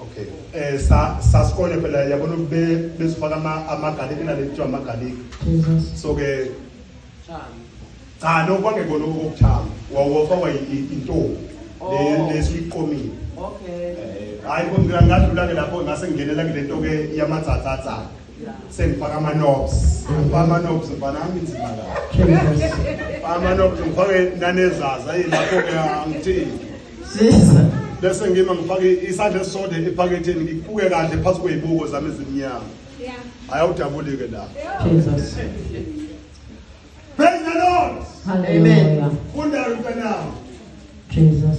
okay eh sa sa skole phela yabona ube besifaka ama amagarlic nale kuthiwa amagarlic so ke cha no kwangekona okuthanga wawofakwa intombi oh. le lesiqomile okay eh, hayi kodwa ngadlula ke lapho ngase ngingenela kule nto ke yamatsatsatsana sengifaka ama-nobs ngifaka ama-nobs mfanami inzima la ama-nobs ngifake nanezaza yilapho-ke angithini sisa bese ngima ngifake isandla esisodwa ephaketheni ngikubuke kahle phansi kweyibuko zami ezimnyama ayawudabulike la praise the lord amen funda mntanami jesus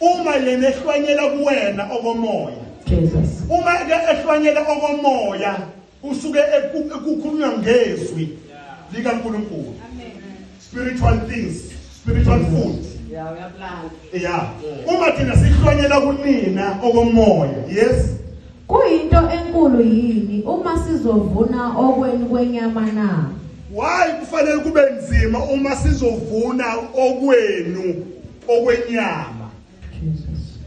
uma yena ehlwanyela kuwena okomoya Jesus uma ke ehlwanyela okomoya usuke ekukhulunywa ngezwi likaNkulunkulu spiritual things spiritual food yeah uma thina sihlwanyela kunina okomoya yes kuyinto enkulu yini uma sizovuna okweni kwenyama na why kufanele kube nzima uma sizovuna okwenu okwenyama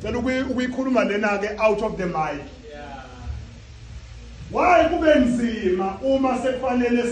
cela ukuyikhuluma lena ke out of the mic why kube nzima uma sekufanele